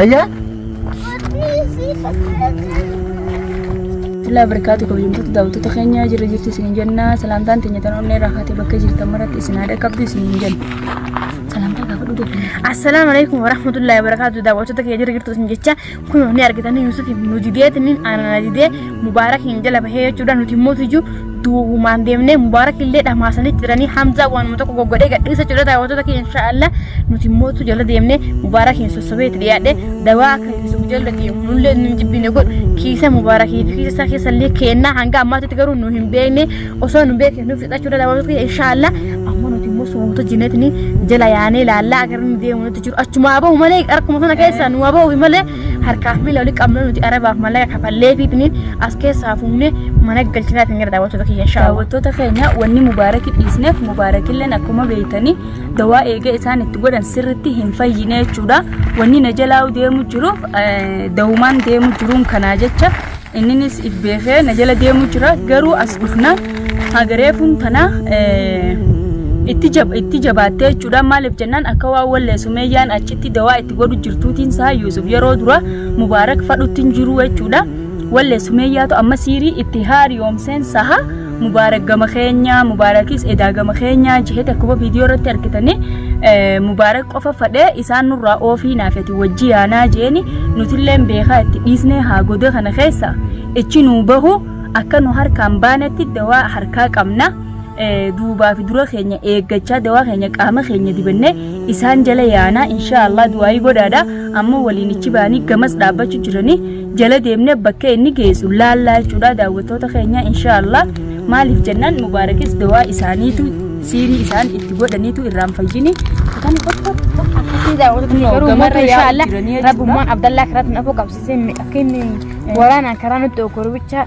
Ayya. Ilaa barkaatu kabajamtoota daawwattoota keenya jirra jirtu isin jenna salaamtaan teenya tan onnee irraa kaatee bakka jirtan maratti isin haadha qabdu isin jenna. Salaamtaa gaafa dhugee kenna. Assalaamu alaikum warahmatullahi wabarakatuh daawwattoota keenya jirra jirtu isin jecha kun ni argitanii Yuusuf nu didee tinin aanana didee Mubaarakiin jala bahee jechuudha nuti immoo tujuu duubumaan deemnee mubaarak illee dhamaasanii jiranii hamzaa waanuma tokko goggodhee gadhiisa jechuudha daawwattoota keenya inshaallah nuti immoo tu jala deemnee mubaarakiin sossobee itti dhiyaadhee dawaa akka hir'isuuf jala deemu nullee nu hin jibbine kun kiisa mubaarakii fi kiisa isaa keessa illee keennaa hanga ammaatitti garuu nu hin beekne osoo nu beekne nuuf fixaa jechuudha daawwattoota keenya inshaallah amma nuti immoo suuta jineetni jala yaanee laallaa agarni deemu nutti jiru achumaa bahu malee harkuma sana keessaa nu bahu malee harkaaf miila walitti qabnu nuti arabaaf mallaqa kafalleefiitiin as keessaa fuunee mana galchinaa ittiin gara daawwattoota kiyya inshaa Allah. Daawwattoota keenya wanni mubaaraki dhiisneef mubaarakilleen akkuma beeytanii dawaa eega isaan itti godhan sirritti hin fayyine jechuudha. Wanni na jalaa deemu jiruuf eh, dawumaan deemu jiruun kanaa jecha Inninis ibbeefee na jala deemu jira garuu as dhufna hagareefuun tana itti jab- itti jabaattee jechuudha maaliif jennaan akka waan wallee sumeeyyaan achitti dawaa itti godhu jirtuutiin isaa yuusuf yeroo dura mubaarak fadhutti hin jiru jechuudha wallee sumeeyyaatu amma siirii itti haariyoomseen saha Mubaarak gama keenya Mubaarakis edaa gama keenya jihee takkuma viidiyoo irratti argitanii Mubaarak qofa fadhee isaan nurraa oofii naafeti wajji yaanaa jeeni nutilleen beekaa itti dhiisnee haa godee kana keessa ichi nuu bahu akka nu harkaan baanetti dawaa harkaa qabna duubaa fi dura keenya eeggachaa dawaa keenya qaama keenya dibannee isaan jala yaanaa inshaallah du'aayii godhaadha ammoo waliin ichi baanii gamas dhaabbachuu jiranii jala deemne bakkee inni geessu laallaa jechuudha daawwattoota keenya inshaallah maaliif jennaan mubaarakis dawaa isaaniitu siirii isaan itti godhaniitu irraan fayyini kan gamarra yaa'u jiranii jechuudha. Rabbummaan Abdallaa karaa tun afoo qabsiisee akka inni waraanaan karaa nutti ogoru bichaa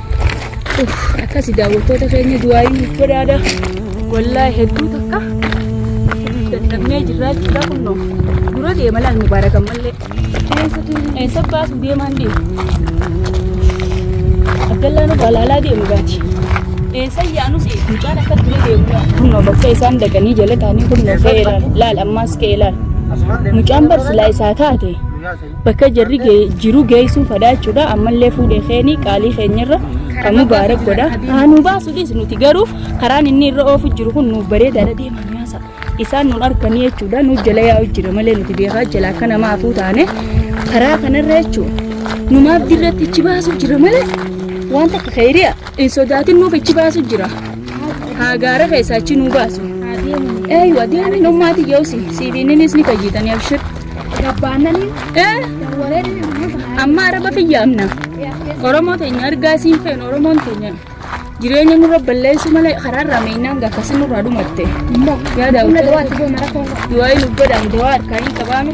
akkasi daawwattoota keenya du'aayi nuuf godhaadha wallaa hedduu takka dadhabnee jirraa jirraa kunnoo dura deema laal mubaarakan mallee eessa baasu deemaan deema abdallaa nu balaalaa deemu gaati eessa yaanus mucaan akka dura deemu kunnoo bakka isaan dhaqanii jala taanii kunnoo ka'ee laal laal ammaas ka'ee laal mucaan barsilaa isaa taate Bakka jarri ga'e jiru geessuuf hadhaa jechuudha. Ammallee fuudhee keeni qaalii keenyarra kan mubaarak godha. Haa nu baasu dhiis nuti garuu karaan inni irra oofu jiru kun nuuf bareedaadha deemaa nu yaasa. Isaan nun arkanii jechuudha. Nu jala yaa'u jira malee nuti beekaa jala akka namaa hafuu taane karaa kanarra jechuudha. Numaaf dirratti ichi baasu jira malee waan takka keeri'a. Hin sodaatin nuuf ichi baasu jira. Haa gaara keessaa achi nuu baasu. Eeyyu adeemi nummaati yeosi siibiininis ni fayyitanii abshir. Gabbaannanii Ee warreen amma araba kiyyaamna. Oromoo teenya argaa siin feenu Oromoon teenya jireenya nurra balleessuu malee karaa irraa meennaan gaafasi nurraa dhumatte. Yaa daawwattoota du'aayi nu godhaan dawaa harkaa hin qabaame.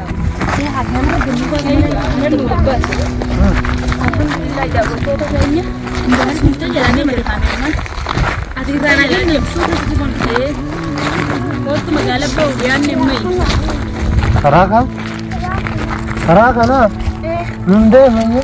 Karaa kan? Karaa kanaa? Nun deemee?